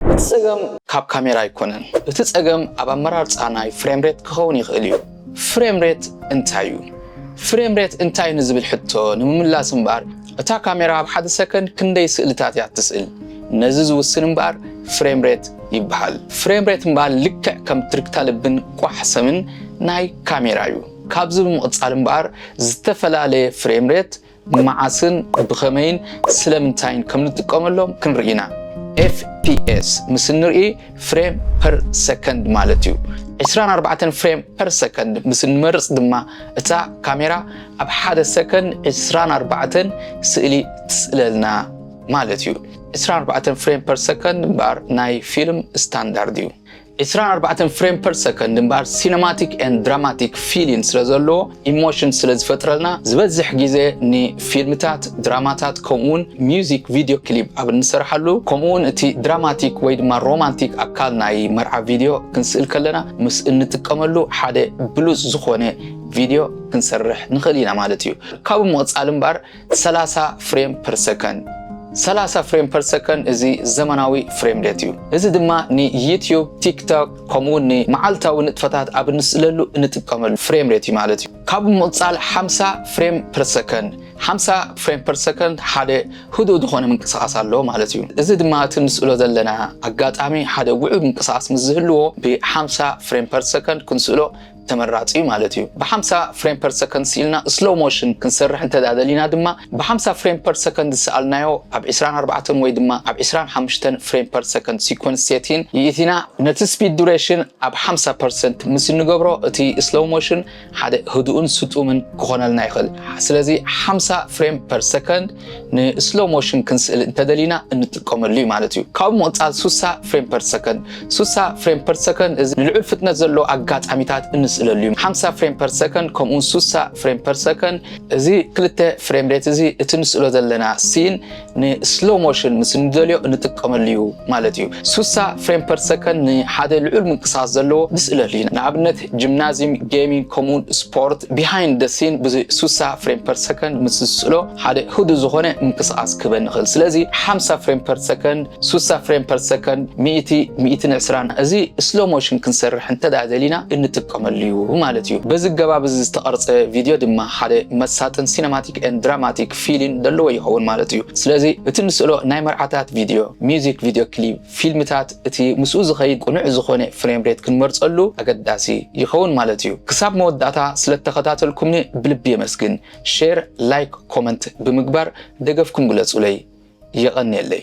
እቲ ጸገም ካብ ካሜራ ኣይኮነን እቲ ጸገም ኣብ ኣመራርጻ ናይ ፍሬም ሬት ክኸውን ይኽእል እዩ። ፍሬም ሬት እንታይ እዩ? ፍሬም ሬት እንታይ ንዝብል ሕቶ ንምምላስ እምበኣር እታ ካሜራ ኣብ ሓደ ሰከንድ ክንደይ ስእልታት እያ እትስእል ነዚ ዝውስን እምበኣር ፍሬም ሬት ይበሃል። ፍሬም ሬት እምበኣር ልክዕ ከም ትርግታ ልብን ቋሕ ሰምን ናይ ካሜራ እዩ። ካብዚ ብምቕጻል እምበኣር ዝተፈላለየ ፍሬም ሬት መዓስን ብኸመይን ስለምንታይን ከም ንጥቀመሎም ክንርኢ ኢና። FPS ምስ እንርኢ ፍሬም ፐር ሰከንድ ማለት እዩ። 24 ፍሬም ፐር ሰከንድ ምስ እንመርጽ ድማ እታ ካሜራ ኣብ ሓደ ሰከንድ 24 ስእሊ ትስእለልና ማለት እዩ። 24 ፍሬም ፐር ሰከንድ እምበኣር ናይ ፊልም ስታንዳርድ እዩ። ዕስራን ኣርባዕተን ፍሬም ፐር ሰከንድ እምበኣር ሲነማቲክ ኤንድ ድራማቲክ ፊሊን ስለ ዘለዎ ኢሞሽን ስለ ዝፈጥረልና ዝበዝሕ ግዜ ንፊልምታት ድራማታት ከምኡውን ሚውዚክ ቪድዮ ክሊፕ ኣብ እንሰርሓሉ ከምኡውን እቲ ድራማቲክ ወይ ድማ ሮማንቲክ ኣካል ናይ መርዓ ቪድዮ ክንስእል ከለና ምስ እንጥቀመሉ ሓደ ብሉጽ ዝኾነ ቪድዮ ክንሰርሕ ንኽእል ኢና ማለት እዩ ካብኡ ምቕጻል እምበኣር ሰላሳ ፍሬም ፐር ሰከንድ ሰላሳ ፍሬም ፐር ሰከንድ እዚ ዘመናዊ ፍሬም ሬት እዩ። እዚ ድማ ንዩትዩብ፣ ቲክቶክ ከምኡ ውን ንመዓልታዊ ንጥፈታት ኣብ እንስእለሉ እንጥቀመሉ ፍሬም ሬት እዩ ማለት እዩ። ካብኡ ብምቕጻል ሓምሳ ፍሬም ፐር ሰከንድ ሓምሳ ፍሬም ፐር ሰከንድ ሓደ ህዱእ ዝኾነ ምንቅስቓስ ኣለዎ ማለት እዩ። እዚ ድማ እቲ እንስእሎ ዘለና ኣጋጣሚ ሓደ ውዑይ ምንቅስቓስ ምስ ዝህልዎ ብሓምሳ ፍሬም ፐር ሰከንድ ክንስእሎ ተመራጺ እዩ ማለት እዩ። ብሓምሳ ፍሬም ፐር ሰከንድ ስኢልና ስሎው ሞሽን ክንሰርሕ እንተድኣ ደሊና ድማ ብሓምሳ ፍሬም ፐር ሰከንድ ዝሰኣልናዮ ኣብ ዕስራን ኣርባዕተን ወይ ድማ ኣብ ዕስራን ሓምሽተን ፍሬም ፐር ሰከንድ ሲኮንስ ሴቲን ይእቲና ነቲ ስፒድ ዱሬሽን ኣብ ሓምሳ ፐርሰንት ምስ እንገብሮ እቲ ስሎው ሞሽን ሓደ ህዱእን ስጡምን ክኾነልና ይኽእል። ስለዚ ሓምሳ ፍሬም ፐር ሰከንድ ንስሎ ሞሽን ክንስእል እንተደሊና እንጥቀመሉ እዩ ማለት እዩ። ካብኡ ምቕፃል ሱሳ ፍሬም ፐር ሰከንድ ሱሳ ፍሬም ፐር ሰከንድ እዚ ንልዑል ፍጥነት ዘለዎ ኣጋጣሚታት እንስእለሉ እዩ። ሓምሳ ፍሬም ፐር ሰከንድ ከምኡ እውን ሱሳ ፍሬም ፐር ሰከንድ እዚ ክልተ ፍሬም ሬት እዚ እቲ ንስእሎ ዘለና ሲን ንስሎ ሞሽን ምስ እንደልዮ እንጥቀመሉ እዩ ማለት እዩ። ሱሳ ፍሬም ፐር ሰከንድ ንሓደ ልዑል ምንቅስቓስ ዘለዎ ንስእለሉ እዩ። ንኣብነት ጂምናዝዩም ጌሚንግ ከምኡውን ስፖርት ቢሃይንድ ደ ሲን ብ ሱሳ ፍሬም ፐር ሰከንድ ምስ ዝስእሎ ሓደ ህዱእ ዝኾነ ምንቅስቓስ ክህበኒ ይኽእል ስለዚ ሓምሳ ፍሬም ፐር ሰከንድ ሱሳ ፍሬም ፐር ሰከንድ ሚእቲ ሚእትን ዕስራን እዚ ስሎ ሞሽን ክንሰርሕ እንተ ደሊና እንጥቀመሉ እዩ ማለት እዩ በዚ ገባብ እዚ ዝተቐርጸ ቪድዮ ድማ ሓደ መሳጥን ሲነማቲክ ን ድራማቲክ ፊሊን ደለዎ ይኸውን ማለት እዩ ስለዚ እቲ ንስእሎ ናይ መርዓታት ቪድዮ ሚዚክ ቪድዮ ክሊፕ ፊልምታት እቲ ምስኡ ዝኸይድ ቅኑዕ ዝኾነ ፍሬም ሬት ክንመርጸሉ ኣገዳሲ ይኸውን ማለት እዩ። ክሳብ መወዳእታ ስለ እተኸታተልኩምኒ ብልቢ የመስግን። ሼር፣ ላይክ፣ ኮመንት ብምግባር ደገፍኩም ግለጹለይ። የቐንየለይ።